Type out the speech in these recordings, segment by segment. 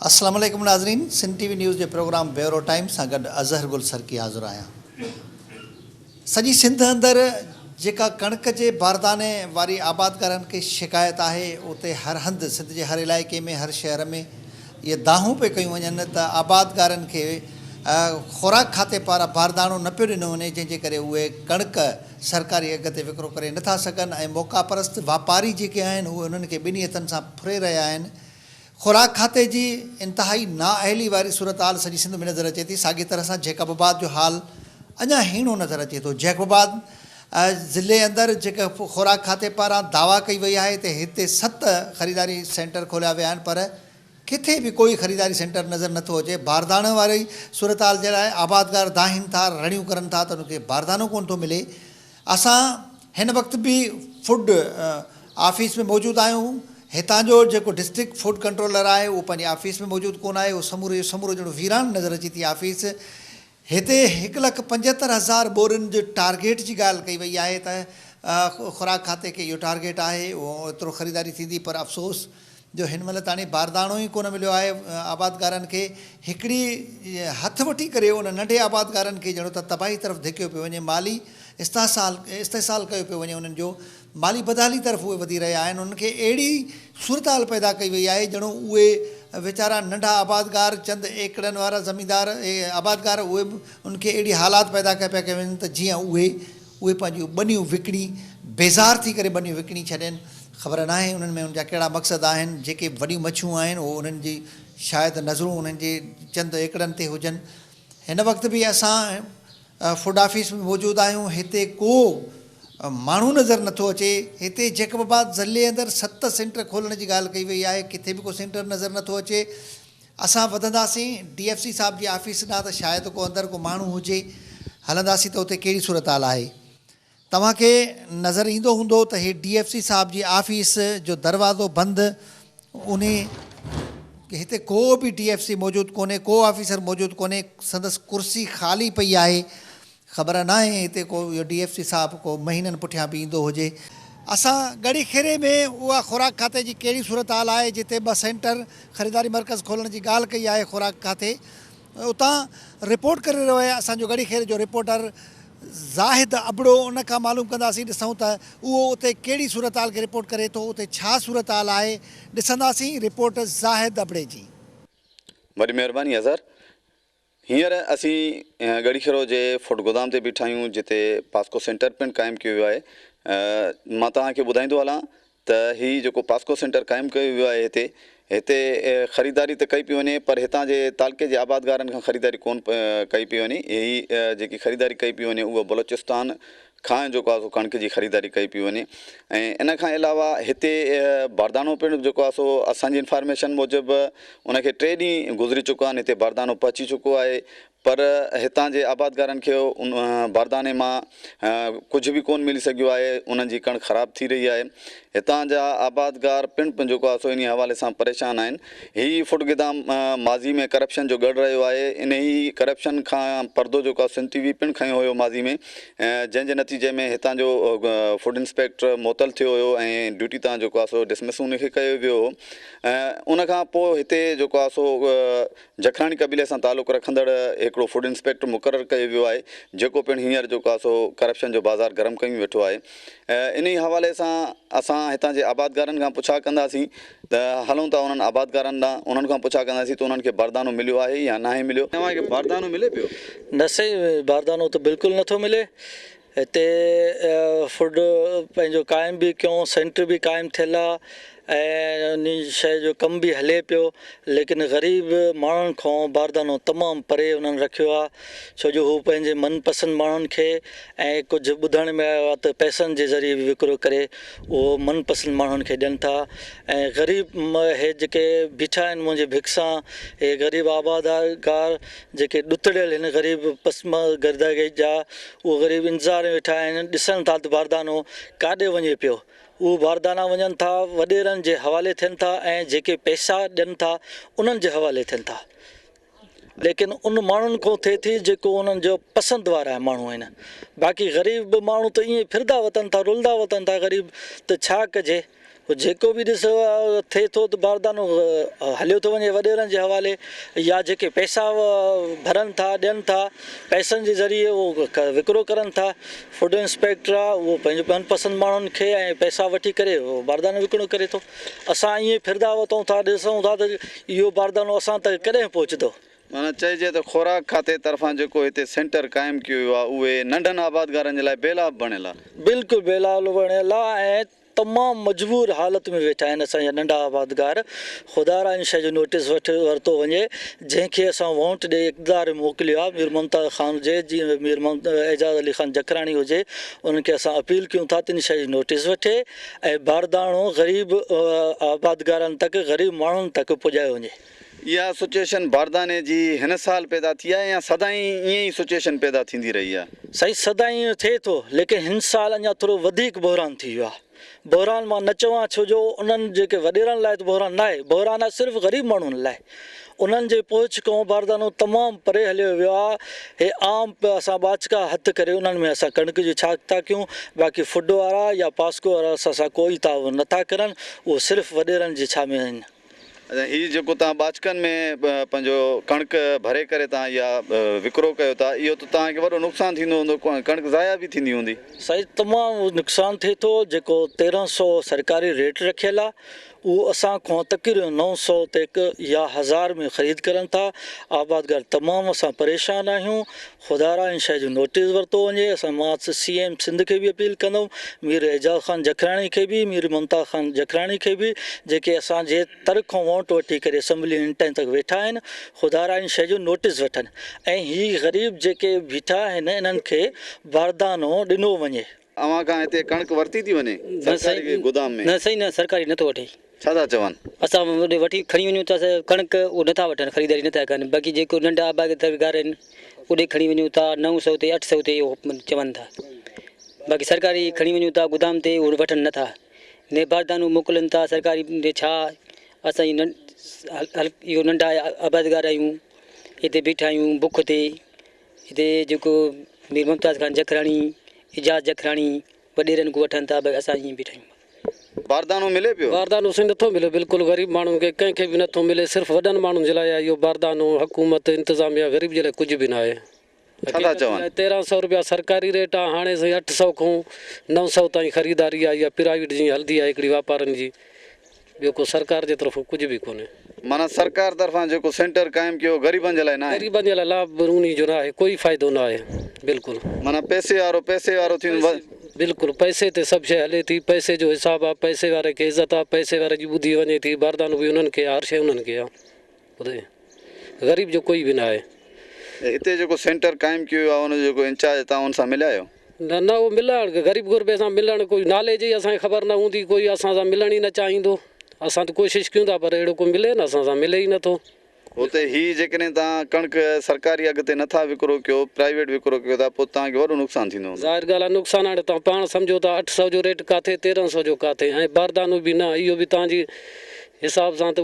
السلام عليڪم ناظرين سنڌ ٽي وي نيوز جي پروگرام بيورو ٽائيم سان گڏ اظهر گل سرڪي حاضر آهيان سڄي سنڌ اندر جيڪا ڪڻڪ جي بارداني واري آبادگارن کي شڪايت آهي اتي هر هنڌ سنڌ جي هر علائقي ۾ هر شهر ۾ اهي دانهون پئي ڪيون وڃن ته آبادگارن کي خوراڪ کاتي پاران بارداڻو نه پيو ڏنو وڃي جنهن جي ڪري اهي ڪڻڪ سرڪاري اگهه تي وڪرو ڪري نه ٿا سگهن ۽ موقعا پرست واپاري جيڪي آهن اهي انهن کي ٻنهي هٿن سان ڦري رهيا آهن خوراڪ کاتي جي انتهائي نااهلي واري صورتحال سڄي سنڌ ۾ نظر اچي ٿي ساڳي طرح سان جيڪب آباد جو حال اڃا هيڻو نظر اچي ٿو جيڪب آباد ضلعي اندر جيڪا خوراڪ کاتي پاران دعويٰ ڪئي وئي آهي ته هتي ست خريداري سينٽر کوليا ويا آهن پر ڪٿي به ڪوئي خريداري سينٽر نظر نٿو اچي باردانه واري صورتحال جي لاء آبادگار دانهن ٿا رڙيون ڪرن ٿا ته ان کي باردانو ڪونه ٿو ملي اسان هن وقت به فوڊ آفيس ۾ موجود آهيون هتان جو جيڪو ڊسٽرڪٽ فوڊ ڪنٽرولر آهي اهو پنهنجي آفيس ۾ موجود ڪونه آهي اهو سمورو جو سمورو ڄڻو ويران نظر اچي ٿي آفيس هتي هڪ لک پنجهتر هزار ٻورين جي ٽارگيٽ جي ڳالهه ڪئي وئي آهي ته خوراڪ کاتي کي اهو ٽارگيٽ آهي ايترو خريداري ٿيندي پر افسوس جو هن مهل تاڻي بارداڻو ئي ڪونه مليو آهي آبادگارن کي هڪڙي هٿ وٺي ڪري ان ننڍي آبادگارن کي ڄڻو ته تباهي طرف ڌڪيو پيو وڃي مالي استحصال استحصال ڪيو پيو وڃي انهن جو مالي بدحالي طرف اهي وڌي رهيا آهن انهن کي اهڙي صورتحال پيدا ڪئي وئي آهي جهڙو اهي ويچارا ننڍا آبادگار چند ايڪڙن وارا زميندار آبادگار اهي به انهن کي اهڙي حالات پيدا ڪيا پيا ڪيا وڃن ته جيئن اهي اهي پنهنجيون ٻنيون وڪڻي بيزار ٿي ڪري ٻنيون وڪڻي ڇڏين خبر ناهي انهن ۾ انهن جا ڪهڙا مقصد آهن جيڪي وڏيون مڇيون آهن اهو انهن جي شايد نظرون انهن جي چند ايڪڙن تي هجن هن وقت به اسان فوڊ آفيس ۾ موجود آهيون هتي ڪو ماڻهو نظر نٿو اچي هتي جيڪب آباد ضلعي اندر ست سينٽر کولڻ جي ڳالهه ڪئي وئي آهي ڪٿي به ڪو سينٽر نظر نٿو اچي اسان وڌنداسين ڊي ايف سي صاحب جي آفيس ڏانهن ته شايد ڪو اندر ڪو ماڻهو هجي هلنداسين ته اتي ڪهڙي صورتحال آهي. توهان کي نظر ايندو هوندو ته هي ڊي ايف سي صاحب جي آفيس جو دروازو بند انهي هتي ڪو به ڊي ايف سي موجود ڪونهي ڪو آفيسر موجود ڪونهي سندس ڪرسي خالي پئي آهي خبر ناهي هتي ڪو اهو ڊي ايف سي صاحب ڪو مهينن پٺيان به ايندو هجي. اسان ڳڙهي کيري ۾ اها خوراڪ کاتي جي ڪهڙي صورتحال آهي جتي ٻه سينٽر خريداري مرڪز کولڻ جي ڳالهه ڪئي آهي خوراڪ کاتي اتان رپورٽ ڪري رهيو آهي اسان جو ڳڙهي کيري جو رپورٽر. زاهد ابڙو ان کان معلوم ڪنداسين ڏسون ته اهو اتي ڪهڙي صورتحال کي رپورٽ ڪري ٿو اتي ڇا صورتحال آهي ڏسنداسين رپورٽ زاهد ابڙي جي. وڏي مهرباني اظهر. هينئر اسين ڳڙهيکيرو جي فوڊ گودام تي بيٺا آهيون جتي پاسڪو سينٽر پڻ قائم ڪيو ويو آهي مان توهان کي ٻڌائيندو هلان ته هي جيڪو پاسڪو سينٽر قائم ڪيو ويو آهي هتي هتي خريداري ته ڪئي پئي وڃي پر هتان جي تعلقي جي آبادگارن کان خريداري ڪون ڪئي پئي وڃي هي جيڪي خريداري ڪئي پئي وڃي اهو بلوچستان کان جيڪو آهي سو ڪڻڪ جي خريداري ڪئي پئي وڃي ۽ ان کان علاوه هتي باردانو پڻ جيڪو آهي سو اسان جي انفارميشن موجب ان کي ٽي ڏينهن گذري چڪا آهن هتي باردانو پهچي چڪو آهي پر هتان جي آبادگارن کي ان بارداني مان ڪجهه به ڪونه ملي سگهيو آهي، انهن جي ڪڻڪ خراب ٿي رهي آهي، هتان جا آبادگار پڻ جيڪو آهي سو انهي حوالي سان پريشان آهن، هي فوڊ گدام ماضي ۾ ڪرپشن جو ڳڙهه رهيو آهي، انهي ڪرپشن کان پردو جيڪو آهي سنڌ ٽي وي پڻ کنيو هيو ماضي ۾ جنهن جي نتيجي ۾ هتان جو فوڊ انسپيڪٽر معطل ٿيو هيو ۽ ڊيوٽي تان جيڪو آهي سو ڊسمس انهي کي ڪيو ويو هو ان کان پوء هتي جيڪو آهي سو جکراڻي قبيلي سان تعلق رکندڙ هڪڙو فوڊ انسپيڪٽر مقرر ڪيو ويو آهي جيڪو پڻ هينئر جو ڪا سو ڪرپشن جو بازار گرم ڪيون ويٺو آهي انهي حوالي سان اسان هتان جي آبادگارن کان پڇا ڪنداسين ته هلون ٿا انهن آبادگارن ڏانهن انهن کان پڇا ڪنداسين ته انهن کي باردانو مليو آهي يا ناهي مليو. توهان کي باردانو ملي پيو؟ نه سائين باردانو ته بلڪل نٿو ملي هتي فوڊ پنهنجو قائم به ڪيون سينٽر به قائم ٿيل آ ۽ ان شئي جو ڪم به هلي پيو ليڪن غريب ماڻهن کون باردانو تمام پري انهن رکيو آ ڇو جو هو پنهنجي من پسند ماڻهن کي ۽ ڪجهه ٻڌڻ ۾ آيو آ ته پئسن جي ذريعي به وڪرو ڪري اهو من پسند ماڻهن کي ڏين ٿا ۽ غريب هي جيڪي بيٺا آهن منهنجي ڀڪسان هي غريب آبادگار جيڪي ڏتڙيل هن غريب پسمه گرداگئي جا اهو غريب انتظار ۾ ويٺا آهن ڏسن ٿا ته باردانو ڪاڏي وڃي پيو اهو باردانا وڃن ٿا وڏيرن جي حوالي ٿين ٿا ۽ جيڪي پئسا ڏين ٿا انهن جي حوالي ٿين ٿا ليڪن ان ماڻهن کون ٿئي ٿي جيڪو انهن جو پسند وارا ماڻهو آهن باقي غريب ماڻهو ته ائين ڦردا وتن ٿا رلدا وتن ٿا غريب ته ڇا ڪجي هو جيڪو به ڏس ٿئي ٿو ته باردانو هليو ٿو وڃي وڏيرن جي حوالي يا جيڪي پئسا ڀرن ٿا ڏين ٿا پئسن جي ذريعي اهو وڪرو ڪرن ٿا فوڊ انسپيڪٽر آهي اهو پنهنجو من پسند ماڻهن کي ۽ پئسا وٺي ڪري باردانو وڪرو ڪري ٿو اسان ائين ڦردا وتون ٿا ڏسون ٿا ته اهو باردانو اسان تائين ڪڏهن پهچندو معنيٰ چئجي ته خوراڪ کاتي طرفان جيڪو هتي سينٽر قائم ڪيو ويو آهي اهي ننڍن آبادگارن جي لاء بيلاڀ بڻيل آهي. بلڪل بيلاڀ بڻيل آهي ۽ تمام مجبور حالت ۾ ويٺا آهن اسان جا ننڍا آبادگار خدارا ان شيء جو نوٽيس وٺ ورتو وڃي جنهن کي اسان وونٽ ڏئي اقتدار ۾ موڪليو آهي مير ممتاز خان هجي جي مير اعجاز علي خان جکراڻي هجي انهن کي اسان اپيل ڪيون ٿا ته ان شيء جو نوٽيس وٺي ۽ بارداڻو غريب آبادگارن تڪ غريب ماڻهن تڪ پڄايو وڃي. اها سچوئيشن بارداني جي هن سال پيدا ٿي آهي يا سدائين ائين ئي سچوئيشن پيدا ٿيندي رهي آهي؟ سائين سدائين ائين ٿئي ٿو ليڪن هن سال اڃا ٿورو وڌيڪ بحران ٿي ويو آهي. بحران مان نه چوان ڇو جو انهن جيڪي وڏيرن لاء ته بحران ناهي، بحران آهي صرف غريب ماڻهن لاء. انهن جي پهچ کان باردانو تمام پري هليو ويو آهي. هي عام اسان ٻاچڪا هٿ ڪري انهن ۾ اسان ڪڻڪ جي ڇاڪ ٿا ڪيون باقي فوڊ وارا يا پاسڪو وارا اسان سان ڪو ئي تعاون نه ٿا ڪرن اهو صرف وڏيرن جي ڇا ۾ آهن. هي جيڪو توهان ٻاچڪن ۾ پنهنجو ڪڻڪ ڀري ڪري توهان اها وڪرو ڪيو ٿا اهو ته توهان کي وڏو نقصان ٿيندو هوندو ڪڻڪ ضايع به ٿيندي هوندي. سائين تمام نقصان ٿئي ٿو جيڪو تيرهن سئو سرڪاري ريٽ رکيل آ اهو اسان کان تقريبن نو سئو تي يا هزار ۾ خريد ڪرن ٿا آبادگار تمام اسان پريشان آهيون خدارا ان شيء جو نوٽيس ورتو وڃي، اسان مان سي ايم سنڌ کي به اپيل ڪندؤن، مير اعجاز خان جکراڻي کي به، مير ممتاز خان جکراڻي کي به، جيڪي اسان جي تر کان وونٽ وٺي ڪري اسيمبلي ان ٽائين تڪ ويٺا آهن، خدارا ان شيء جو نوٽيس وٺن ۽ هي غريب جيڪي بيٺا آهن انهن کي باردانو ڏنو وڃي. اوهان کان هتي ڪڻڪ ورتي ٿي وڃي سرڪاري گودام ۾؟ نه سائين نه سرڪاري نٿو وٺي. ڇا ٿا چون؟ اسان اوڏي وٺي کڻي وڃون ٿا ڪڻڪ اهو نٿا وٺن خريداري نٿا ڪن باقي جيڪو ننڍا آبادگار آهن اوڏي کڻي وڃون ٿا نو سئو تي اٺ سئو تي اهو چون ٿا باقي سرڪاري کڻي وڃون ٿا گودام تي اهو وٺن نٿا ني باردانو موڪلن ٿا سرڪاري ڏي ڇا اسان جي اهو ننڍا آبادگار آهيون هتي بيٺا آهيون بک تي هتي جيڪو مير ممتاز خان جکراڻي، اعجاز جکراڻي، وڏيرن کان وٺن ته به اسان ائين بيٺا آهيون. باردانو ملي پيو؟ باردانو سائين نٿو ملي، بلڪل غريب ماڻهن کي ڪنهن کي به نٿو ملي، صرف وڏن ماڻهن جي لاء آهي اهو باردانو، حڪومت، انتظاميا غريب جي لاء ڪجهه به ناهي. ڇا ٿا چون؟ تيرهن سئو روپيا سرڪاري ريٽ آهي، هاڻي سائين اٺ سئو کان نو سئو تائين خريداري آهي، اها پرائيويٽ جيئن هلندي آهي هڪڙي واپارن جي. ٻيو ڪو سرڪار جي طرفون ڪجهه به ڪونهي. معنيٰ سرڪار طرفان جيڪو سينٽر قائم ڪيو غريبن جي لاء ناهي. غريبن جي لاء لا انهي جو ناهي ڪوئي فائدو ناهي بلڪل. معنيٰ پئسي وارو پئسي وارو ٿي ويندو. بلڪل پئسي تي سڀ شيء هلي ٿي پئسي جو حساب آ پئسي واري کي عزت آ پئسي واري جي ٻڌي وڃي ٿي باردانو به انهن کي آ هر شيء انهن کي آ. اتي غريب جو ڪوئي به نه آهي. هتي جيڪو سينٽر قائم ڪيو ويو آهي ان جو جيڪو انچارج توهان ان سان مليا آهيو؟ نه نه اهو ملڻ غريب غربي سان ملڻ ڪوئي نالي جي اسان کي خبر نه هوندي ڪوئي اسان سان ملڻ ئي نه چاهيندو اسان ته ڪوشش ڪيون ٿا پر اهڙو ڪو ملي نه اسان سان ملي ئي نٿو. اتي هي جيڪڏهن توهان ڪڻڪ سرڪاري اگهه تي نٿا وڪرو ڪيو پرائيويٽ وڪرو ڪيو ٿا پوء توهان کي وڏو نقصان ٿيندو هوندو. ظاهر ڳالهه آهي نقصان هاڻي توهان پاڻ سمجهو ٿا اٺ سئو جو ريٽ ڪاٿي تيرنهن سئو جو ڪاٿي ۽ باردانو به نه اهو به توهان جي حساب سان ته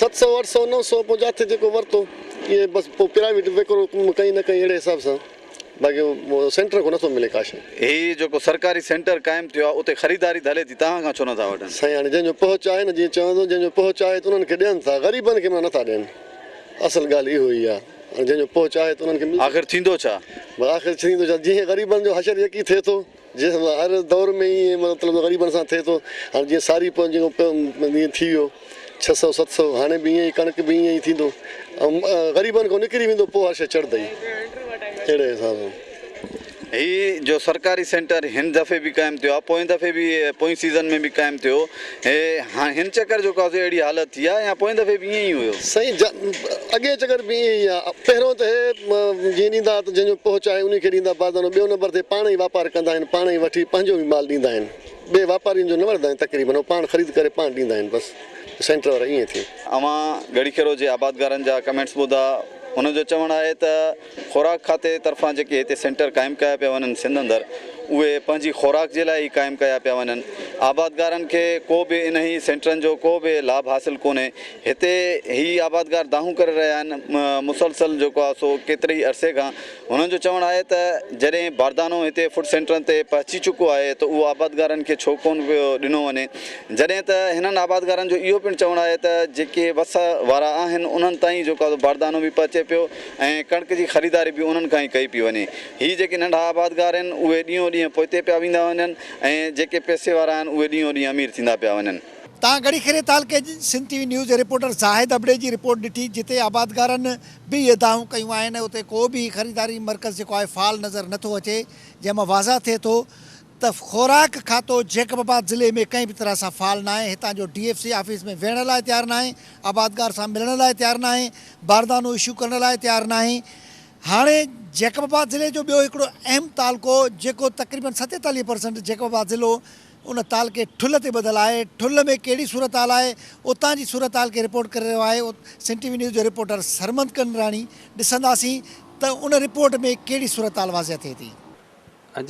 ست سؤ اٺ سؤ نو سؤ پوء جاٿي جيڪو ورتو اهي بس پوء پرائيويٽ وڪرو ڪئين نه ڪئين اهڙي حساب سان باقي سينٽر کان نٿو ملي ڪا شيء. هي جيڪو سرڪاري سينٽر قائم ٿيو آهي اتي خريداري ته هلي ٿي توهان کان ڇو نٿا وٺن؟ سائين هاڻي جنهن جو پهچ آهي نه جيئن چون ٿو جنهن جو پهچ آهي ته انهن کي ڏين ٿا غريبن کي معنيٰ نٿا ڏين اصل ڳالهه اهو ئي آهي جنهن جو پهچ آهي ته انهن کي ملي. آخر ٿيندو ڇا؟ بس آخر ڇا ٿيندو جيئن غريبن جو حشر يڪي ٿئي ٿو. جنهن سان هر دور ۾ ائين مطلب غريبن سان ٿئي ٿو هاڻي جيئن ساري پو جيڪو پيو ائين ٿي ويو ڇهه سؤ ست سؤ هاڻي به ائين ئي ڪڻڪ به ائين ئي ٿيندو ۽ غريبن کان نڪري ويندو پو هر شي چڙهندي اهڙي حساب سان. هي جو سرڪاري سينٽر هن دفعي به قائم ٿيو آهي پوئين دفعي به پوئين سيزن ۾ به قائم ٿيو هي هاڻ هن چڪر جو ڪا اهڙي حالت ٿي آهي يا پوئين دفعي به ائين ئي هيو؟ سائين جا اڳئين چڪر به ائين ئي آ. پهريون ته هي جيئن ڏيندا ته جنهن جو پهه چاهي انهي کي ڏيندا بازدانو ٻيو نمبر تي پاڻ ئي واپار ڪندا آهن پاڻ ئي وٺي پنهنجو ئي مال ڏيندا آهن ٻئي واپارين جو نه وٺندا آهن تقريبن هو پاڻ خريد ڪري پاڻ ڏيندا آهن بس سينٽر وارا ائين ٿي. اوهان ڳڙهي کيرو جي آبادگارن جا ڪمينٽس ٻڌا انهن جو چوڻ آهي ته. خوراڪ کاتي طرفان جيڪي هتي سينٽر قائم ڪيا پيا وڃن سنڌ اندر اهي پنهنجي خوراڪ جي لاء ئي قائم ڪيا پيا وڃن آبادگارن کي ڪو به انهي سينٽرن جو ڪو به لاڀ حاصل ڪونهي هتي هي آبادگار دانهون ڪري رهيا آهن مسلسل جيڪو آهي سو ڪيتري ئي عرصي کان هنن جو چوڻ آهي ته جڏهن باردانو هتي فوڊ سينٽرن تي پهچي چڪو آهي ته اهو آبادگارن کي ڇو ڪونه پيو ڏنو وڃي جڏهن ته هنن آبادگارن جو اهو پڻ چوڻ آهي ته جيڪي وس وارا آهن انهن تائين جيڪو آهي سو باردانو به پهچي پيو ۽ ڪڻڪ جي خريداري به انهن کان ئي ڪئي پئي وڃي. هي جيڪي ننڍا آبادگار آهن، اهي ڏينهون ڏينهن پوئتي پيا ويندا وڃن ۽ جيڪي پئسي وارا آهن، اهي ڏينهون ڏينهن امير ٿيندا پيا وڃن. تان ڳڙهي کيري تعلقي جي سنڌ ٽي وي نيوز جي رپورٽر زاهد ابڙي جي رپورٽ ڏٺي، جتي آبادگارن به اهي دانهون ڪيون آهن ۽ اتي ڪو به هي خريداري مرڪز جيڪو آهي فعال نظر نٿو اچي، جنهن مان واضح ٿئي ٿو ته خوراڪ کاتو جيڪب آباد ضلعي ۾ ڪنهن به طرح سان فعال ناهي، هتان جو ڊي ايف سي آفيس ۾ ويهڻ لاء تيار ناهي، آبادگار سان ملڻ لاء تيار ناهي، باردانو اشو ڪرڻ لاء تيار ناهي، هاڻي جيڪب آباد ضلعي جو ٻيو هڪڙو اهم تعلقو جيڪو تقريبن ستيتاليهه پرسنٽ جيڪب آباد ضلعو ان تعلقي ٺل تي ٻڌل آهي، ٺل ۾ ڪهڙي صورتحال آهي، اتان جي صورتحال کي رپورٽ ڪري رهيو آهي سنڌ ٽي وي نيوز جو رپورٽر سرمد ڪنڊراڻي، ڏسنداسين ته ان رپورٽ ۾ ڪهڙي صورتحال واضح ٿئي ٿي.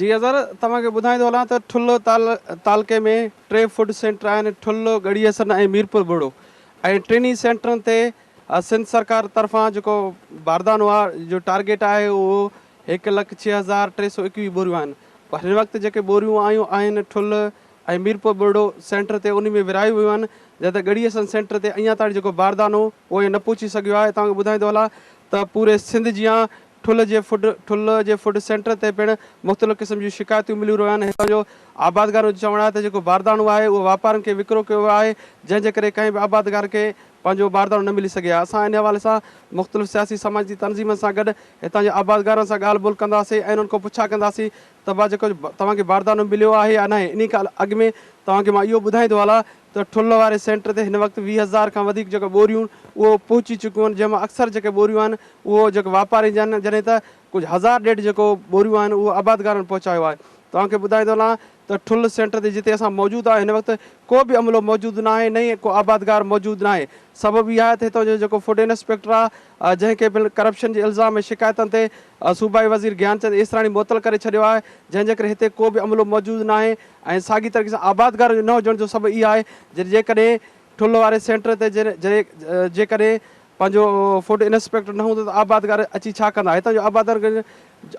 جي اظهر، توهان کي ٻڌائيندو هلان ته ٺل تعلقي ۾ ٽي فوڊ سينٽر آهن، ٺل، ڳڙهي حسن ۽ ميرپور ٻهڙو ۽ ٽنهي سينٽرن تي سنڌ سرڪار طرفان جيڪو باردان اها جو ٽارگيٽ آهي اهو هڪ لک ڇهه هزار ٽي سؤ ايڪويهه ٻوريون آهن پر هن وقت جيڪي ٻوريون آيون آهن ٺل ۽ ميرپور ٻهڙو سينٽر تي انهي ۾ ورهايون ويون آهن جڏهن ڳڙهي حسن سينٽر تي اڃا تائين جيڪو باردان هو اهو نه پهچي سگهيو آهي توهان کي ٻڌائيندو هلان ته پوري سنڌ جيان ٺل جي فوڊ ٺل جي فوڊ سينٽر تي پڻ مختلف قسم جون شڪايتون مليون رهيون آهن هتان جو آبادگارن جو چوڻ آهي ته جيڪو بارداڻو آهي اهو واپارين کي وڪرو ڪيو ويو آهي جنهن جي ڪري ڪنهن به آبادگار کي پنهنجو بارداڻو نه ملي سگهي اسان ان حوالي سان مختلف سياسي سماجي تنظيمن سان گڏ هتان جي آبادگارن سان ڳالهه ٻولهه ڪنداسين ۽ انهن کان پڇا ڪنداسين ته ڀا جيڪو توهان کي بارداڻو مليو آهي يا ناهي انهي کان اڳ ۾ توهان کي مان اهو ٻڌائيندو هلان ته ٺل واري سينٽر تي هن وقت ويهه هزار کان وڌيڪ جيڪي ٻوريون اهو پهچي چڪيون آهن جنهن مان اڪثر جيڪي ٻوريون آهن اهو جيڪي واپاري جا آهن جڏهن ته ڪجهه هزار ڏيڍ جيڪو ٻوريون آهن اهو آبادگارن پهچايو آهي توهان کي ٻڌائيندو هلان ته ٺل سينٽر تي جتي اسان موجود آهيون هن وقت ڪو به عملو موجود ناهي نه ئي ڪو آبادگار موجود ناهي سبب اهو آهي ته هتان جو جيڪو فوڊ انسپيڪٽر آهي جنهن کي پڻ ڪرپشن جي الزام ۽ شڪايتن تي صوبائي وزير گيان چند ايسراڻي معطل ڪري ڇڏيو آهي جنهن جي ڪري هتي ڪو به عملو موجود ناهي ۽ ساڳي طريقي سان آبادگارن جو نه هجڻ جو سبب اها آهي جن جيڪڏهن ٺلهه واري سينٽر تي جيڪڏهن پنهنجو فوڊ انسپيڪٽر نه هوندو ته آبادگار اچي ڇا ڪندا؟ هتان جو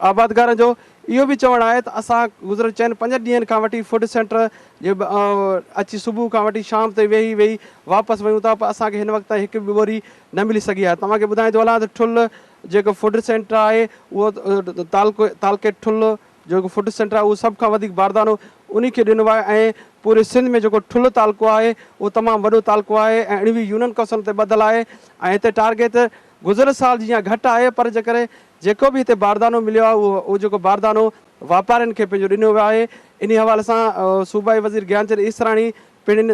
آبادگارن جو اهو به چوڻ آهي ته اسان گذريل چئن پنجن ڏينهن کان وٺي فوڊ سينٽر جي اچي صبح کان وٺي شام تائين ويهي ويهي واپس ويون ٿا پر اسان کي هن وقت تائين هڪ به ٻوري نه ملي سگهي آهي توهان کي ٻڌائيندو هلان ته ٺلهه جيڪو فوڊ سينٽر آهي اهو تعلقي ٺلهه جو هڪ فوڊ سينٽر آهي اهو سڀ کان وڌيڪ باردانو انهي کي ڏنو آهي ۽ پوري سنڌ ۾ جيڪو ٺلهه تعلقو آهي اهو تمام وڏو تعلقو آهي ۽ اڻوي يونين ڪوسن تي ٻڌل آهي ۽ هتي ٽارگيت گذريل سال جي يا گهٽ آهي پر جيڪڏهن جيڪو به هتي باردانو مليو آهي اهو جيڪو باردانو واپارين کي پنهنجو ڏنو ويو آهي انهي حوالي سان صوبائي وزير گيان چند ايسراڻي پڻ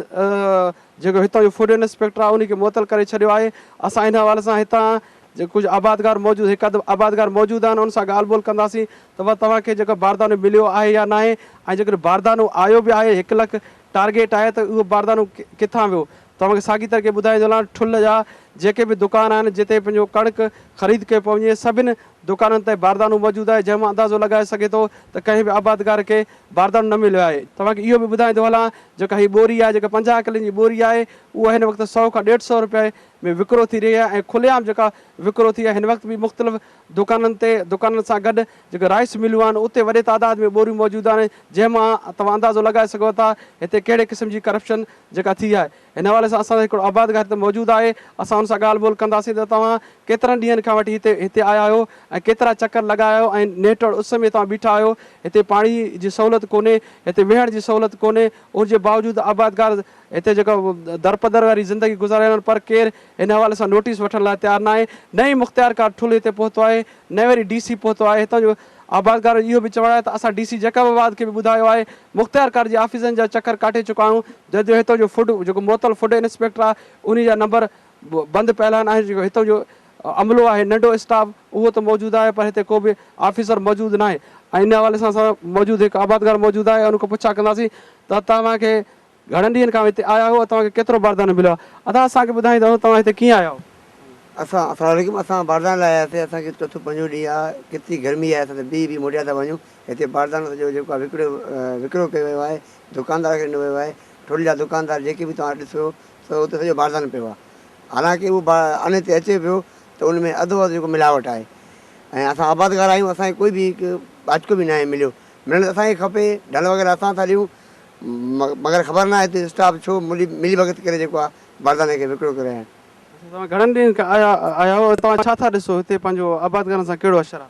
جيڪو هتان جو فورين اسپيڪٽر آهي ان کي معطل ڪري ڇڏيو آهي اسان ان حوالي سان هتان جي ڪجهه آبادگار موجود هڪ اڌ آبادگار موجود آهن ان سان ڳالهه ٻولهه ڪنداسين ته ڀا توهان کي جيڪو باردانو مليو آهي يا ناهي ۽ جيڪڏهن باردانو آيو به آهي هڪ لک ٽارگيٽ آهي ته اهو باردانو ڪٿان ويو توهان کي ساڳي طريقي ٻڌائيندو هلان ٺل جا جيڪي به دڪان آهن جتي پنهنجو ڪڻڪ خريد ڪئي پئي وڃي سڀني دڪانن تي باردانو موجود آهي جنهن مان اندازو لڳائي سگهي ٿو ته ڪنهن به آبادگار کي باردانو نه مليو آهي. توهان کي اهو به ٻڌائيندو هلان جيڪا هي ٻوري آهي جيڪا پنجاهه ڪلن جي ٻوري آهي اها هن وقت سؤ کان ڏيڍ سؤ روپيه ۾ وڪرو ٿي رهي آهي ۽ کلي عام جيڪا وڪرو ٿي آهي هن وقت به مختلف دڪانن تي دڪانن سان گڏ جيڪي رائس مليون آهن اتي وڏي تعداد ۾ ٻوريون موجود آهن جنهن مان توهان اندازو لڳائي سگهو ٿا هتي ڪهڙي قسم جي ڪرپشن جيڪا ٿي آهي هن حوالي سان اسان جو هڪڙو آباد گاهه هتي موجود آهي، اسان ان سان ڳالهه ٻولهه ڪنداسين ته توهان ڪيترن ڏينهن کان وٺي هتي هتي آيا آهيو ۽ ڪيترا چڪر لڳايا آهيو ۽ نهٽوڙ اس ۾ توهان بيٺا آهيو، هتي پاڻي جي سهولت ڪونهي، هتي ويهڻ جي سهولت ڪونهي، ان جي باوجود آبادگار هتي جيڪو درپدر واري زندگي گذاري رهيا آهن پر ڪير هن حوالي سان نوٽيس وٺڻ لاء تيار ناهي، نه ئي مختيارڪار ٺل هتي پهتو آهي، نه وري ڊي سي پهتو آهي، هتان جو آبادگارن جو اهو به چوڻ آهي ته اسان ڊي سي جيڪب آباد کي به ٻڌايو آهي، مختيارڪار جي آفيسن جا چڪر ڪاٽي چڪا آهيون جج جو هتو جو فوڊ جيڪو معطل فوڊ انسپيڪٽر آهي انهي جا نمبر بند پيل آهن ۽ جيڪو هتو جو عملو آهي ننڍو اسٽاف اهو ته موجود آهي پر هتي ڪو به آفيسر موجود ناهي ۽ ان حوالي سان سان موجود هڪ آبادگار موجود آهي ان کان پڇا ڪنداسين ته توهان کي گهڻن ڏينهن کان هتي آيا هئو توهان کي ڪيترو باردانه مليو آهي ادا اسان کي ٻڌائيندا ته توهان هتي ڪيئن آيا هئو. اسان اسلام عليڪم اسان بارداني لاء آياسي اسان کي چوٿون پنجون ڏينهن آ ڪيتري گرمي آهي اسان ته بيهي بيهي موٽيا ٿا وڃون هتي باردانه جو جيڪو وڪرو وڪرو ڪيو ويو آهي دڪاندار کي ڏنو ويو آهي ٺل جا دڪاندار جيڪي به توهان ڏسو ته اتي سڄو باردانه پيو آهي حالانڪه اهو با ان تي اچي پيو ته ان ۾ اڌو وڌ جيڪو ملاوٽ آهي ۽ اسان آبادگار آهيون اسان کي ڪوئي به هڪ ٻاچڪو به ناهي مليو ملڻ ته اسان کي کپي ڍل وغيره اسان ٿا ڏيون مگر خبر ناهي هتي اسٽاف ڇو ملي ملي ڀڳت ڪري جيڪو آهي باردانه کي وڪرو ڪري رهيا آهن. توهان گهڻن ڏينهن کان آيا آهيا ۽ توهان ڇا ٿا ڏسو هتي پنهنجو آبادگارن سان ڪهڙو اشر آهي؟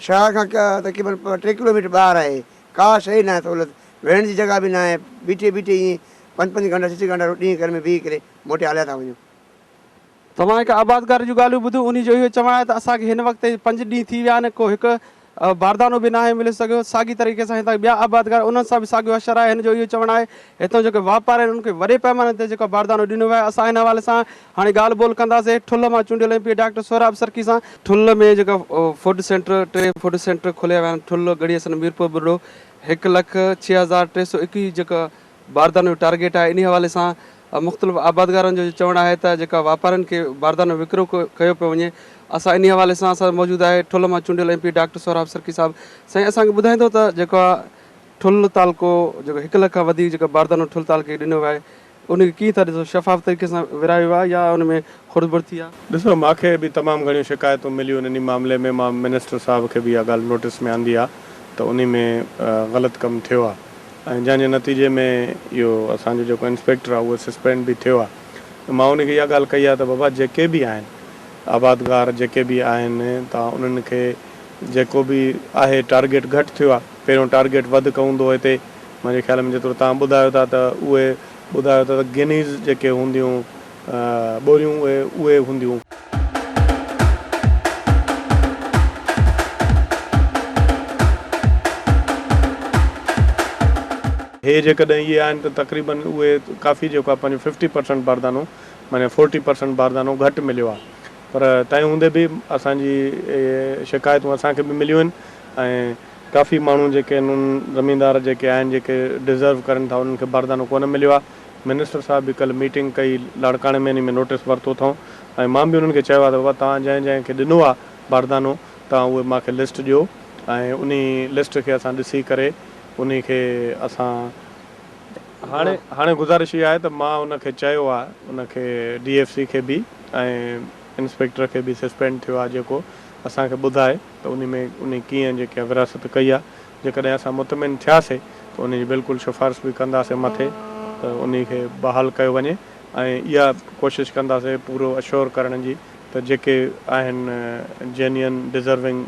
شهر کان تقريبن ٽي ڪلوميٽر ٻاهر آهي. ڪا شيء ناهي سهولت، ويهڻ جي جڳهه به ناهي، بيٺي بيٺي ائين پنج پنج گهنٽا ڇهه ڇهه گهنٽا روٽي جي گهر ۾ بيهي ڪري موٽي هليا ٿا وڃون. توهان هڪ آبادگار جون ڳالهيون ٻڌيون، انهي جو اهو چوڻ آهي ته اسان کي هن وقت تائين پنج ڏينهن ٿي ويا آهن، ڪو هڪ باردانو به ناهي ملي سگهيو، ساڳي طريقي سان هتان ٻيا آبادگار انهن سان به ساڳيو حشر آهي، هن جو اهو چوڻ آهي هتان جيڪي واپارين انهن کي وڏي پئماني تي جيڪو باردانو ڏنو ويو آهي، اسان ان حوالي سان هاڻي ڳالهه ٻولهه ڪنداسي ٺل مان چونڊيل M P doctor Sohrab Sarki سان. ٺل ۾ جيڪا فوڊ سينٽر ٽي فوڊ سينٽر کوليا ويا آهن ٺل، ڳڙهي حسن، ميرپور ٻرڙو هڪ لک ڇهه هزار ٽي سؤ ايڪويهه جيڪا باردانن جو ٽارگيٽ آهي انهي حوالي سان مختلف آبادگارن جو چوڻ آهي ته جيڪا واپارين کي باردانو وڪرو ڪيو پيو وڃي اسان انهي حوالي سان اسان سان موجود آهي ٺل مان چونڊيل M P doctor Sohrab Sarki صاحب سائين اسان کي ٻڌائيندو ته جيڪا ٺل تعلقو جيڪو هڪ لک کان وڌيڪ جيڪا باردانو ٺل تعلقي کي ڏنو ويو آهي ان کي ڪيئن ٿا ڏسو شفاف طريقي سان ورهايو ويو آهي يا ان ۾ خرد برد ٿي آهي؟ ڏسو مان کي به تمام گهڻيون شڪايتون مليون انهي معاملي ۾ مان منسٽر صاحب کي به اها ڳالهه نوٽس ۾ آندي آهي ته انهي ۾ غلط ڪم ٿيو آهي ۽ جنهن جي نتيجي ۾ اهو اسان جو جيڪو انسپيڪٽر آهي اهو سسپينڊ به ٿيو آهي مان انهي کي اها ڳالهه ڪئي آهي ته بابا جيڪي به آهن آبادگار جيڪي به آهن ته انهن کي جيڪو به آهي ٽارگيٽ گهٽ ٿيو آهي پهريون ٽارگيٽ وڌ ڪوندو هو هتي منهنجي خيال ۾ جيترو توهان ٻڌايو ٿا ته اهي ٻڌايو ٿا ته گنيز جيڪي هونديون ٻوريون اهي اهي هونديون. هي جيڪڏهن اهي آهن ته تقريباً اهي ڪافي جيڪو آهي پنهنجو ففٽي پرسنٽ باردانو معني فورٽي پرسنٽ باردانو گهٽ مليو آهي پر تنهن هوندي به اسان جي شڪايتون اسان کي به مليون آهن ۽ ڪافي ماڻهو جيڪي انهن زميندار جيڪي آهن جيڪي ڊزرو ڪرن ٿا انهن کي باردانو ڪونه مليو آهي منسٽر صاحب به ڪلهه ميٽنگ ڪئي لاڙڪاڻي ۾ انهي ۾ نوٽس ورتو اٿئون ۽ مان به انهن کي چيو آهي ته بابا توهان جنهن جنهن کي ڏنو آهي باردانو توهان اهي مان کي لسٽ ڏيو ۽ انهي لسٽ کي اسان ڏسي ڪري انهي کي اسان هاڻي هاڻي گذارش اها آهي ته مان ان کي چيو آهي ان کي ڊي ايف سي کي به ۽ انسپيڪٽر کي به سسپينڊ ٿيو آهي جيڪو اسان کي ٻڌائي. ته انهي ۾ انهي ڪيئن جيڪا ورهاست ڪئي آهي جيڪڏهن اسان مطمئن ٿياسي ته انهي جي بلڪل سفارش به ڪنداسي مٿي ته انهي کي بحال ڪيو وڃي ۽ اها ڪوشش ڪنداسي پورو اشور ڪرڻ جي ته جيڪي آهن جينين ڊزرونگ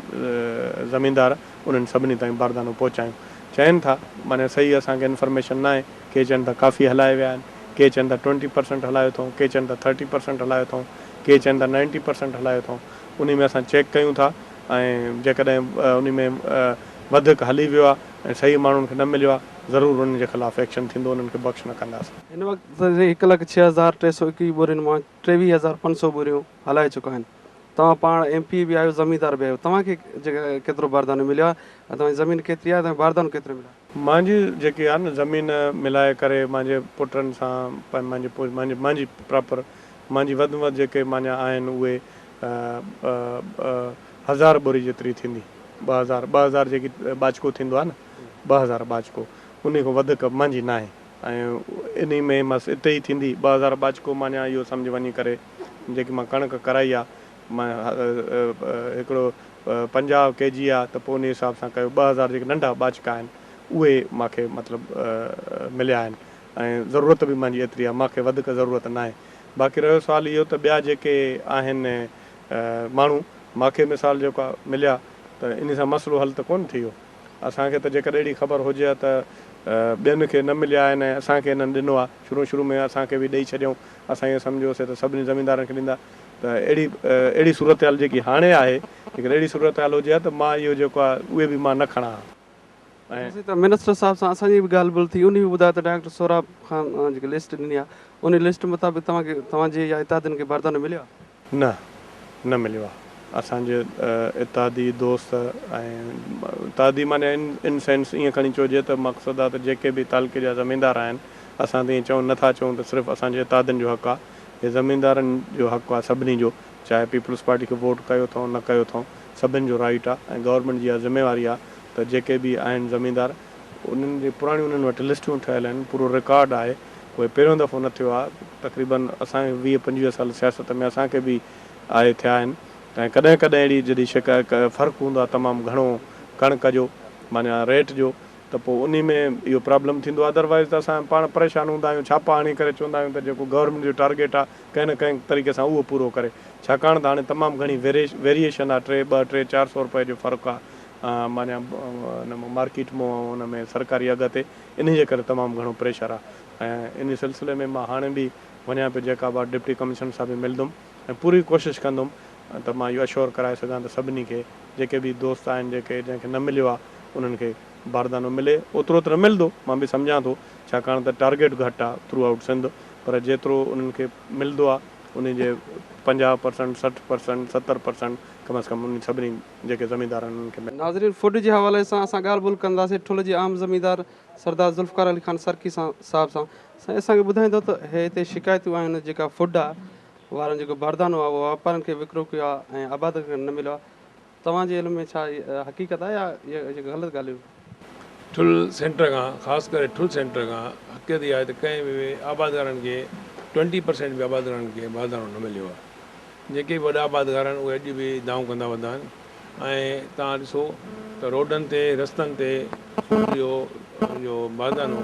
زميندار انهن سڀني تائين باردانو پهچايون چين ٿا معني صحيح اسان کي انفرميشن ناهي ڪي چين ٿا ڪافي هلائي ويا آهن ڪي چين ٿا ٽوئنٽي پرسنٽ هلايو اٿئون ڪي چين ٿا ٿرٽي پرسنٽ هلايو اٿئون ڪي چين ٿا نائنٽي پرسنٽ هلايو اٿئون انهي ۾ اسان چيڪ ڪيون ٿا ۽ جيڪڏهن انهي ۾ وڌڪ هلي ويو آهي ۽ صحيح ماڻهن کي نه مليو آهي ضرور انهن جي خلاف ايڪشن ٿيندو انهن کي بخش نه ڪنداسين. هن وقت تائين هڪ لک ڇهه هزار ٽي سؤ ايڪويهه ٻورين مان ٽيويهه هزار پنج سؤ ٻوريون هلائي چڪا آهن. توهان پاڻ ايم پي اي به آهيو زميندار به آهيو توهان کي ڪيترو باردانو مليو آهي ۽ توهان جي زمين ڪيتري آهي توهان کي باردانو ڪيترو مليو آهي. مانجي جيڪي آ نه زمين ملائي ڪري مانجي پٽن سان مانجي مانجي مانجي پراپر مانجي وڌ ۾ وڌ جيڪي مانجا آهن اهي هزار ٻوري جيتري ٿيندي ٻه هزار ٻه هزار جيڪي ٻاچڪو ٿيندو آ نه ٻه هزار ٻاچڪو انهي کان وڌڪ مانجي ناهي ۽ انهي ۾ مس اتي ئي ٿيندي ٻه هزار ٻاچڪو مانجا اهو سمجهه وڃي ڪري جيڪي مان ڪڻڪ ڪرائي آ مان هڪڙو پنجاهه ڪي جي آ ته پوء انهي حساب سان ڪيو ٻه هزار جيڪي ننڍا ٻاچڪا آهن اهي مان کي مطلب مليا آهن ۽ ضرورت به مانجي ايتري آ مان کي وڌڪ ضرورت ناهي باقي رهيو سوال اهو ته ٻيا جيڪي آهن ماڻهو مان کي مثال جيڪا مليا ته انهي سان مسئلو حل ته ڪونه ٿي ويو اسان کي ته جيڪڏهن اهڙي خبر هجي ها ته ٻين کي نه مليا آهن ۽ اسان کي انهن ڏنو آ شروع شروع ۾ اسان کي به ڏئي ڇڏيائون اسان ائين سمجهيوسي ته سڀني زميندارن کي ڏيندا ته اهڙي اهڙي صورتحال جيڪي هاڻي آهي جيڪڏهن اهڙي صورتحال هجي ها ته مان اهو جيڪو آهي اهي به مان نه کڻان ها ۽ ڏسي ته منسٽر صاحب سان اسان جي به ڳالهه ٻولهه ٿي انهي به ٻڌايو ته ڊائريڪٽر سهراب خان جيڪي لسٽ ڏني آهي انهي لسٽ مطابق توهان کي توهان جي يا اتحادين کي بردانو مليو آهي؟ نه نه مليو آهي اسان جي اتحادي دوست ۽ اتحادي معني ان سينس ائين کڻي چئجي ته مقصد آهي ته جيڪي به تعلقي جا زميندار آهن اسان ته ائين چئون نه ٿا چئون ته صرف اسان جي اتحادين جو حق آهي هي زميندارن جو حق آ سڀني جو چاهي پيپلز پارٽي کي ووٽ ڪيو ٿئون نه ڪيو ٿئون سڀن جو رائيٽ آ ۽ گورنمينٽ جي اها ذميواري آ ته جيڪي به آهن زميندار انهن جي پراڻيون انهن وٽ لسٽون ٺهيل آهن پورو رڪارڊ آهي اهي پهريون دفعو نه ٿيو آ تقريبن اسان کي ويهه پنجويهه سال سياست ۾ اسان کي به آهي ٿيا آهن ۽ ڪڏهن ڪڏهن اهڙي جڏهن شڪ فرق هوندو آ تمام گهڻو ڪڻڪ جو معنيٰ ريٽ جو ته پوء انهي ۾ اهو پرابلم ٿيندو آهي otherwise ته اسان پاڻ پريشان هوندا آهيون ڇاپا هڻي ڪري چوندا آهيون ته جيڪو گورنمينٽ جو ٽارگيٽ آهي ڪنهن نه ڪنهن طريقي سان اهو پورو ڪري ڇاڪاڻ ته هاڻي تمام گهڻي ويريئيشن آهي ٽي ٻه ٽي چار سئو روپئي جو فرق آهي معنيٰ ان ۾ مارڪيٽ مون ۽ ان ۾ سرڪاري اگهه تي انهي جي ڪري تمام گهڻو پريشر آهي ۽ انهي سلسلي ۾ مان هاڻي به وڃان پيو جيڪا به آهي ڊپٽي ڪمشنر صاحب کي ملندم ۽ پوري ڪوشش ڪندم ته مان اهو اشور ڪرائي سگهان ته سڀني کي جيڪي به دوست آهن جيڪي جنهن کي نه مليو آهي انهن کي باردانو ملي اوترو ته نه ملندو مان به سمجهان ٿو ڇاڪاڻ ته ٽارگيٽ گهٽ آهي ٿرو آئوٽ سنڌ پر جيترو انهن کي ملندو آهي انهي جي پنجاهه پرسنٽ سٺ پرسنٽ ستر پرسنٽ ڪم از ڪم انهن سڀني جيڪي زميندار آهن انهن کي ملي. ناظرين فوڊ جي حوالي سان اسان ڳالهه ٻولهه ڪنداسين ٺل جي عام زميندار سردار ذوالفقار علي خان سرڪي سان صاحب سان سائين اسان کي ٻڌائيندو ته هي هتي شڪايتون آهن جيڪا فوڊ آهي وارن جيڪو باردانو آهي اهو واپارين کي وڪرو ڪيو آهي ۽ آبادڪارن کي نه مليو آهي توهان جي علم ۾ ڇا اهي حقيقت آهي يا اهي غلط ڳالهيون آهن؟ ٺل سينٽر کان خاص ڪري ٺل سينٽر کان حقيقت اها آهي ته ڪنهن به آبادگارن کي ٽوئنٽي پرسينٽ به آبادگارن کي باردانو نه مليو آهي جيڪي به وڏا آبادگار آهن اهي اڄ به دانهون ڪندا وڌا آهن ۽ توهان ڏسو ته روڊن تي رستن تي اهو جو باردانو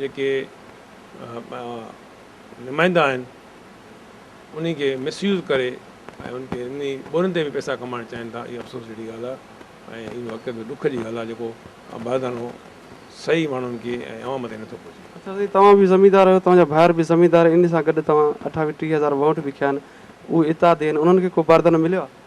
جيڪي نمائندا آهن انهي کي مس يوز ڪري ۽ ان کي انهي ٻولين تي به پئسا ڪمائڻ چاهين ٿا اهي افسوس جهڙي ڳالهه آهي ۽ اهو حقيقت ۾ ڏک جي ڳالهه آهي جيڪو بهادرانو صحيح ماڻهن کي ۽ عوام تائين نٿو پهچي. اچا سائين توهان به زميندار آهيو توهان جا ڀائر به زميندار آهن انهي سان گڏ توهان اٺاويهه ٽيهه هزار ووٽ به کيا آهن اهي اتحادي آهن انهن کي ڪو باردانو مليو آهي؟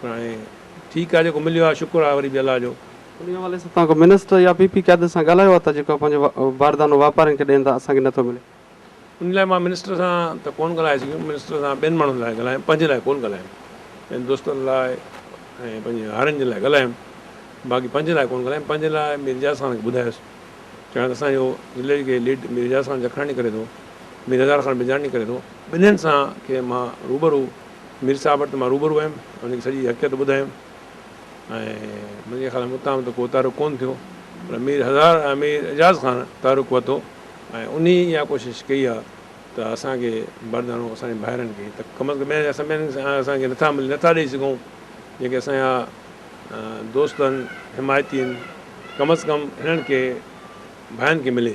پر هاڻي ٺيڪ آهي جيڪو مليو آهي شڪر آهي وري به الله جو. انهي حوالي سان توهان ڪو منسٽر يا پي پي قيادت سان ڳالهايو آهي ته جيڪو پنهنجو باردانو واپارين کي ڏين ٿا اسان کي نٿو ملي؟ ان لاء مان منسٽر سان ته ڪونه ڳالهائي سگهيم، منسٽر سان ٻين ماڻهن لاء ڳالهايم پنهنجي لاء ڪونه ڳالهايم، پنهنجن دوستن لاء ۽ پنهنجي هارين جن لاء ڳالهايم باقي پنهنجي لاء ڪونه ڳالهايم، پنهنجي لاء مير اعجاز خان کي ٻڌايس چيو آهي ته اسان جو ضلعي کي ليڊ مير اعجاز خان جکراڻي ڪري ٿو، مير هزار خان بجاڻي ڪري ٿو، ٻنهين سان کي مان روبرو. مير صاحب وٽ ته مان روبرو ويم ۽ هن کي سڄي حقيقت ٻڌايم ۽ منهنجي خيال ۾ اتان ته ڪو تحرڪ ڪونه ٿيو پر مير هزار ۽ مير اعجاز خان تحرڪ ورتو ۽ انهي اها ڪوشش ڪئي آهي ته اسان کي بردانو اسان جي ڀائرن کي ته ڪم از ڪم ٻين سڀني کي اسان کي نٿا ملي نٿا ڏئي سگهون جيڪي اسان جا دوست آهن حمايتي آهن ڪم از ڪم هنن کي ڀائن کي ملي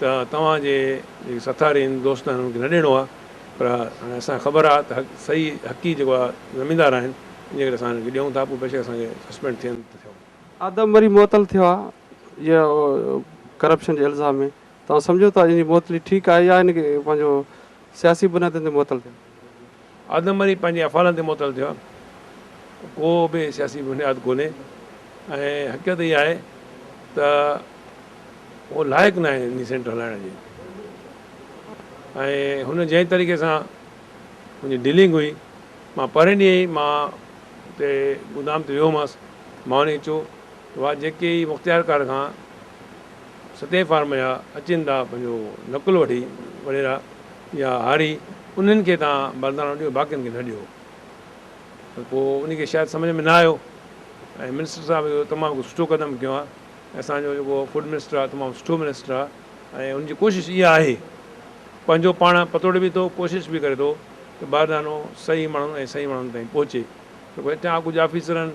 ته توهان جي جيڪي سٿارين دوست آهن انهن کي نه ڏيڻو آهي پر هاڻي اسان کي خبر آهي ته حق صحيح حقي جيڪو آهي زميندار آهن ان جي ڪري اسان هنن کي ڏيون ٿا پوء بيشڪ اسان کي سسپينڊ ٿين ته ٿيون. آدم وري معطل ٿيو آهي جي ڪرپشن جي الزام ۾ توهان سمجهو ٿا ان جي معطلي ٺيڪ آهي يا هن کي پنهنجو سياسي بنيادن تي معطل ڪيو. آدم وري پنهنجي افعالن تي معطل ٿيو آهي. ڪو به سياسي بنياد ڪونهي ۽ حقيقت اها آهي ته اهو لائق ناهي انهي سينٽر هلائڻ جي ۽ هن جنهن طريقي سان منهنجي ڊيلنگ هئي مان پهرين ڏينهن ئي مان اتي گودام تي ويو هومس مان وڃي چو وا جيڪي مختيارڪار کان سڌي فارم يا اچيندا پنهنجو نقل وٺي وڏيرا يا هاري انهن کي تان بردانو ڏيو باقين کي نه ڏيو ته پوء انهي کي شايد سمجهه ۾ نه آيو ۽ منسٽر صاحب اهو تمام ڪو سٺو قدم کنيو آهي ۽ اسان جو جيڪو فوڊ منسٽر آهي تمام سٺو منسٽر آهي ۽ ان جي ڪوشش اها آهي پنهنجو پاڻ پتوڙي به ٿو ڪوشش به ڪري ٿو ته بردانو صحيح ماڻهن ۽ صحيح ماڻهن تائين پهچي ته ڪو هتان ڪجهه آفيسرن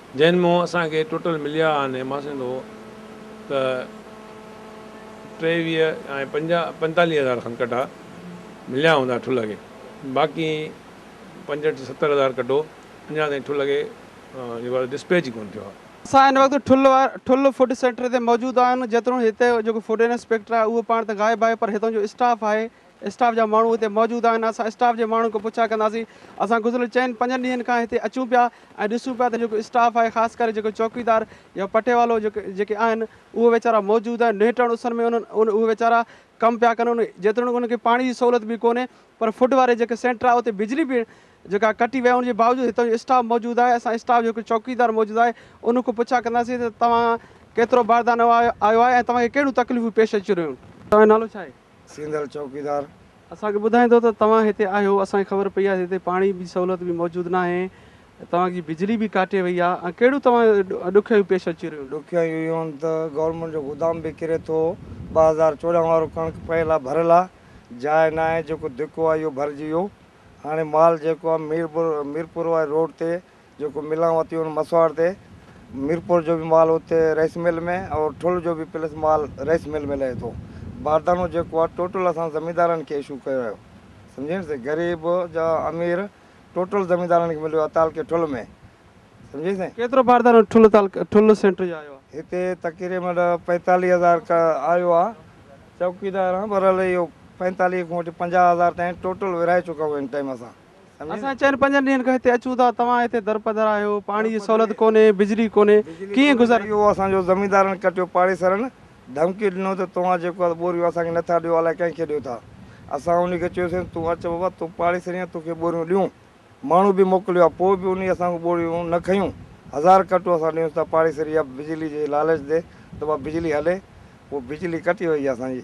جنھن مون اسان کي ٽوٽل مليا آھن ۽ مان سمجھندو ھو ته ٽيويھھ ۽ پنجاھھ پنتاليھھ ھزار کن ڪٽا مليا ھوندا ٺلھھ کي باقي پنجھٺ ستر ھزار ڪٽو اڃا تائين ٺلھھ کي جيڪو آھي ڊسپيچ ئي ڪونھ ٿيو آھي. اسان ھن وقت ٺلھھ فوڊ سينٽر تي موجود آھن جيترو ھتي جيڪو فوڊ انسپيڪٽر آھي اھو پاڻ ته غائب آھي پر ھتان جو اسٽاف آھي اسٽاف جا ماڻهو هتي موجود آهن اسان اسٽاف جي ماڻهن کان پڇا ڪنداسين اسان گذريل چئن پنجن ڏينهن کان هتي اچون پيا ۽ ڏسون پيا ته جيڪو اسٽاف آهي خاص ڪري جيڪو چوڪيدار يا پٽيوالو جيڪي آهن اهي ويچارا موجود آهن نهٽڻ اسن ۾ انهن اهي ويچارا ڪم پيا ڪن ان جيتوڻيڪ انهن کي پاڻي جي سهولت به ڪونهي پر فوڊ واري جيڪي سينٽر آهي اتي بجلي به جيڪا ڪٽي وئي ان جي باوجود هتان جو اسٽاف موجود آهي اسان اسٽاف جيڪو چوڪيدار موجود آهي ان کان پڇا ڪنداسين ته توهان ڪيترو باردانو آيو آهي ۽ توهان کي ڪهڙيون تڪليفون پيش اچي رهيون توهان جو نالو ڇا آهي. سينڌل چوڪيدار. اسان کي ٻڌائيندو ته توهان هتي آهيو اسان کي خبر پئي آهي ته هتي پاڻي جي سهولت به موجود ناهي توهان جي بجلي به ڪاٽي وئي آهي ۽ ڪهڙيون توهان ڏکيائيون پيش اچي رهيون. ڏکيائيون اهو آهن ته گورنمينٽ جو گودام به ڪري ٿو ٻه هزار چوڏهن وارو ڪڻڪ پيل آهي ڀريل آهي جاء ناهي جيڪو ڌڪو آهي اهو ڀرجي ويو هاڻي مال جيڪو آهي ميرپور ميرپور واري روڊ تي جيڪو ملان وتي ان مسواڙ تي ميرپور جو به مال اتي رئيس مل ۾ اور ٺل جو به پلس مال رئيس مل ۾ لهي ٿو باردانو جيڪو آ ٽوٽل اسان زميندارن کي اشو ڪيو ويو سمجهين سائين غريب جا امير ٽوٽل زميندارن کي مليو آ تعلقي ٺل ۾ سمجهين سائين. ڪيترو باردانو ٺل تعلقي ٺل سينٽر جو آيو آ. هتي تقريبن پنجتاليهه هزار آيو آ چوڪيدار هان برحال اهو پنجتاليهه کان وٺي پنجاهه هزار تائين ٽوٽل ورهائي چڪا آهيون هن ٽائيم اسان. اسان چئن پنجن ڏينهن کان هتي اچون ٿا، توهان هتي درپدر آهيو، پاڻي جي سهولت ڪونهي، بجلي ڪونهي، ڪيئن گذر. اهو اسان جو زميندارن ڪٽيو، پاڙيسرن ڌمڪي ڏنو ته توهان جيڪو آهي ٻوريون اسان کي نٿا ڏيو الائي ڪنهن کي ڏيو ٿا، اسان انهي کي چيوسين تون اچ بابا تون پاڙيسري آهين توکي ٻوريون ڏيون، ماڻهو به موڪليو آهي پوء به انهي اسان کان ٻوريون نه کنيون، هزار ڪٽو اسان ڏيونس ٿا پاڙيسري يا بجلي جي لالچ تي ته بابا بجلي هلي، اهو بجلي ڪٽي وئي آهي اسان جي.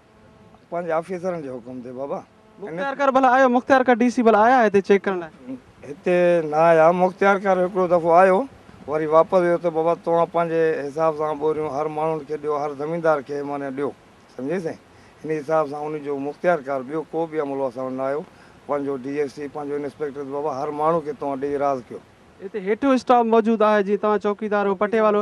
پنهنجي آفيسرن جي حڪم تي بابا. مختيارڪار ڀلا آيو مختيارڪار ڊي سي ڀلا آيا هتي چيڪ ڪرڻ لاء. هتي نه آيا مختيارڪار هڪڙو دفعو آيو وري واپس ويو ته بابا توهان پنهنجي حساب سان ٻوريون هر ماڻهن کي ڏيو هر زميندار کي معني ڏيو سمجهي سائين انهي حساب سان انهي جو مختيارڪار ٻيو ڪو به عملو اسان وٽ نه آيو پنهنجو ڊي ايس سي پنهنجو انسپيڪٽر ته بابا هر ماڻهو کي توهان ڏيئي راض ڪيو. هتي هيٺيون اسٽاف موجود آهي جيئن توهان چوڪيدار هو پٽيوالو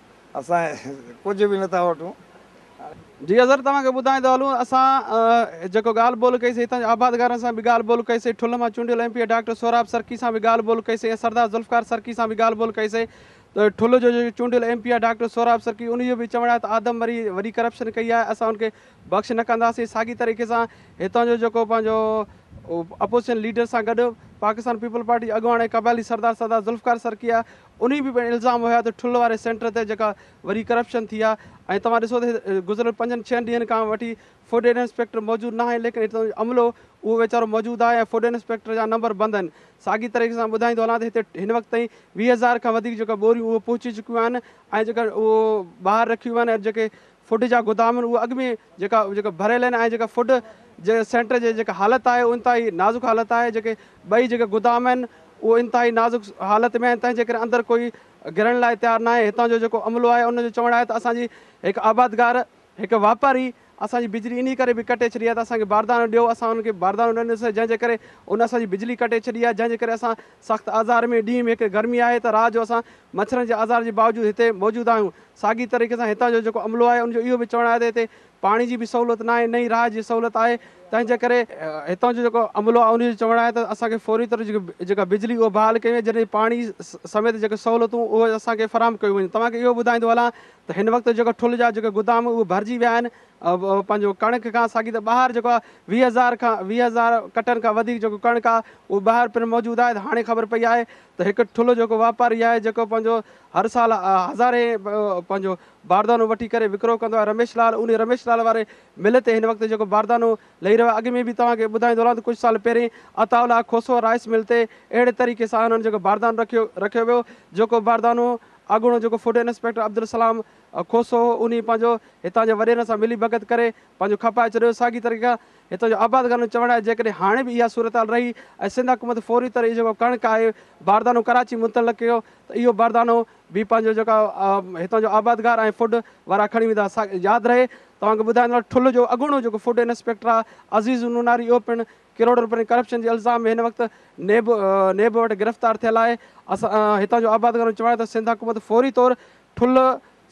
اسان ڪجهه به نٿا وٺون. جي حضرت توهان کي ٻڌائيندو هلون اسان جيڪو ڳالهه ٻولهه ڪئي سي هتان جي آبادگارن سان به ڳالهه ٻولهه ڪئي سي ٺل مان چونڊيل M P A doctor Sohrab Sarki سان به ڳالهه ٻولهه ڪئي سي ۽ سردار ذوالفقار سرڪي سان به ڳالهه ٻولهه ڪئي سي ته ٺل جو جيڪو چونڊيل M P A doctor Sohrab Sarki ان جو به چوڻ آهي ته آدم وري وڏي ڪرپشن ڪئي آهي اسان ان کي بخش نه ڪنداسين ساڳي طريقي سان هتان جو جيڪو پنهنجو اپوزيشن ليڊر سان گڏ پاڪستان پيپلز پارٽي جي اڳواڻ ۽ قبائلي سردار سردار ذوالفقار سرڪي آهي انهي به پڻ الزام هيا ته ٺل واري سينٽر تي جيڪا وري ڪرپشن ٿي آ ۽ توهان ڏسو ته گذريل پنجن ڇهن ڏينهن کان وٺي فوڊين انسپيڪٽر موجود ناهي ليڪن هتان جو عملو اهو ويچارو موجود آهي ۽ فوڊين انسپيڪٽر جا نمبر بند آهن ساڳي طريقي سان ٻڌائيندو هلان ته هتي هن وقت تائين ويهه هزار کان وڌيڪ جيڪا ٻوريون اهي پهچي چڪيون آهن ۽ جيڪا اهو ٻاهر رکيون ويون آهن ۽ جيڪي فوڊ جا گودام آهن اهي اڳ ۾ جيڪا جيڪا ڀريل آهن ۽ جيڪا فوڊ جي سينٽر جي جيڪا حالت آهي انتهائي نازڪ حالت آهي جيڪي ٻئي جيڪا گودام آهن اهي انتهائي نازڪ حالت ۾ آهن تنهن جي ڪري اندر ڪوئي گهڙڻ لاء تيار ناهي هتان جو جيڪو عملو آهي ان جو چوڻ آهي ته اسان جي هڪ آبادگار هڪ واپاري اسان جي بجلي انهي ڪري به ڪٽي ڇڏي آهي ته اسان کي باردانو ڏيو اسان ان کي باردانو نه ڏنوسي جنهن جي ڪري ان اسان جي بجلي ڪٽي ڇڏي آهي جنهن جي ڪري اسان سخت آزار ۾ ڏينهن ۾ هڪ گرمي آهي ته رات جو اسان مڇرن جي آزار جي باوجود هتي موجود آهيون ساڳي طريقي سان هتان جو جيڪو عملو آهي ان جو اهو به چوڻ آهي ته هتي پاڻي جي به سهولت ناهي نه ئي رهائش جي سهولت آهي تنهنجي ڪري هتان جو جيڪو عملو آهي ان جو چوڻ آهي ته اسان کي فوري طور جيڪي جيڪا بجلي اهو بحال ڪيون جڏهن پاڻي سميت جيڪي سهولتون اهو اسان کي فراهم ڪيون وڃن توهان کي اهو ٻڌائيندو هلان ته هن وقت جيڪو ٺل جا جيڪي گدام اهو ڀرجي ويا آهن پنهنجو ڪڻڪ کان ساڳي ته ٻاهر جيڪو آهي ويهه هزار کان ويهه هزار ڪٽن کان وڌيڪ جيڪو ڪڻڪ آهي اهو ٻاهر پڻ موجود آهي ته هاڻي خبر پئي آهي ته هڪ ٺل جيڪو واپاري آهي جيڪو پنهنجو هر سال هزارين پنهنجو باردانو وٺي ڪري وڪرو ڪندو آهي رميش لال انهي رميش لال واري مل تي هن وقت جيڪو باردانو لهي رهيو آهي اڳ ۾ به توهان کي ٻڌائيندو رهان ته ڪجهه سال پهرين Ataullah Khoso rice mill تي اهڙي طريقي سان هنن جيڪو باردانو رکيو رکيو ويو جيڪو باردانو اڳوڻو جيڪو فوڊ انسپيڪٽر عبدالسلام کوسو هو انهي پنهنجو هتان جي وڏيرن سان ملي ڀڳت ڪري پنهنجو کپائي ڇڏيو ساڳي طريقي کان هتان جو آباد گارن جو چوڻ آهي جيڪڏهن هاڻي به اها صورتحال رهي ۽ سنڌ حڪومت فوري طرح اهو جيڪو ڪڻڪ آهي باردانو ڪراچي منتقل ڪيو ته اهو باردانو به پنهنجو جيڪا هتان جو آباد گار ۽ فوڊ وارا کڻي ويندا سا ياد رهي توهان کي ٻڌائيندو ٺل جو اڳوڻو جيڪو فوڊ انسپيڪٽر آهي عزيز النوناري اهو پڻ ڪروڙ روپين ڪرپشن جي الزام ۾ هن وقت نيب نيب وٽ گرفتار ٿيل آهي اسان هتان جو آباد گارن جو چوڻ آهي ته سنڌ حڪومت فوري طور ٺل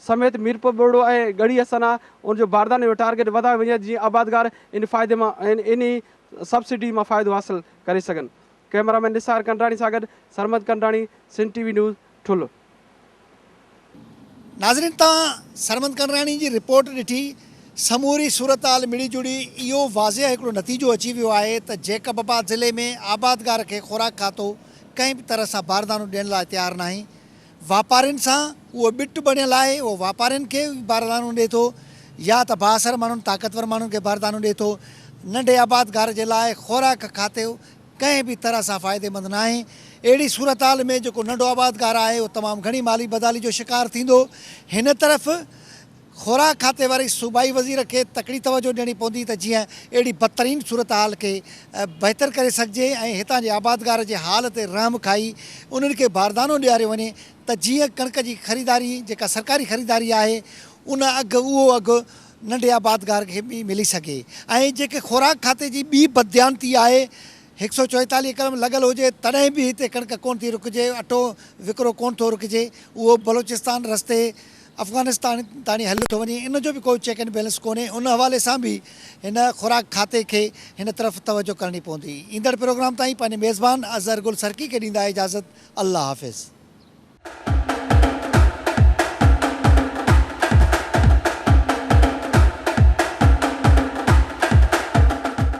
سميت ميرپور ٻرڙو ۽ ڳڙهي حسنا ان جو بارداني جو ٽارگيٽ وڌايو وڃي جيئن آبادگار ان فائدي مان انهي سبسڊي مان فائدو حاصل ڪري سگهن ڪئميرا مين نثار ڪنڊراڻي سان گڏ سرمد ڪنڊراڻي سنڌ ٽي وي نيوز ٺل. ناظرين توهان سرمد ڪنڊراڻي جي رپورٽ ڏٺي سموري صورتحال مڙي جڙي اهو واضح هڪڙو نتيجو اچي ويو آهي ته جيڪب آباد ضلعي ۾ آبادگار کي خوراڪ کاتو ڪنهن به طرح سان باردانو ڏيڻ لاء تيار ناهي واپارين سان اهو ٻٽ بڻيل آهي، اهو واپارين کي باردانو ڏئي ٿو يا ته بااثر ماڻهن، طاقتور ماڻهن کي باردانو ڏئي ٿو. ننڍي آبادگار جي لاء خوراڪ کاتو ڪنهن به طرح سان فائديمند ناهي. اهڙي صورتحال ۾ جيڪو ننڍو آبادگار آهي اهو تمام گهڻي مالي بدحالي جو شڪار ٿيندو. هن طرف. خوراڪ کاتي واري صوبائي وزير کي تڪڙي توجه ڏيڻي پوندي ته جيئن اهڙي بدترين صورتحال کي بهتر ڪري سگهجي ۽ هتان جي آبادگار جي حال تي رحم کائي انهن کي باردانو ڏياريو وڃي ته جيئن ڪڻڪ جي خريداري جيڪا سرڪاري خريداري آهي ان اگهه اهو اگهه ننڍي آبادگار کي به ملي سگهي ۽ جيڪي خوراڪ کاتي جي ٻي بدديانتي آهي هڪ سؤ چوئيتاليهه ايڪڙ لڳل هجي تڏهن به هتي ڪڻڪ ڪونه ٿي رکجي اٽو وڪرو ڪونه ٿو رکجي اهو بلوچستان رستي افغانستان تاڻي هل ٿو وڃي ان جو به ڪو چيڪ اينڊ بيلنس ڪونهي ان حوالي سان به هن خوراڪ کاتي کي هن طرف توجه ڪرڻي پوندي ايندڙ پروگرام تائين پنهنجي ميزبان اظهر گل سرڪي کي ڏيندا اجازت الله حافظ.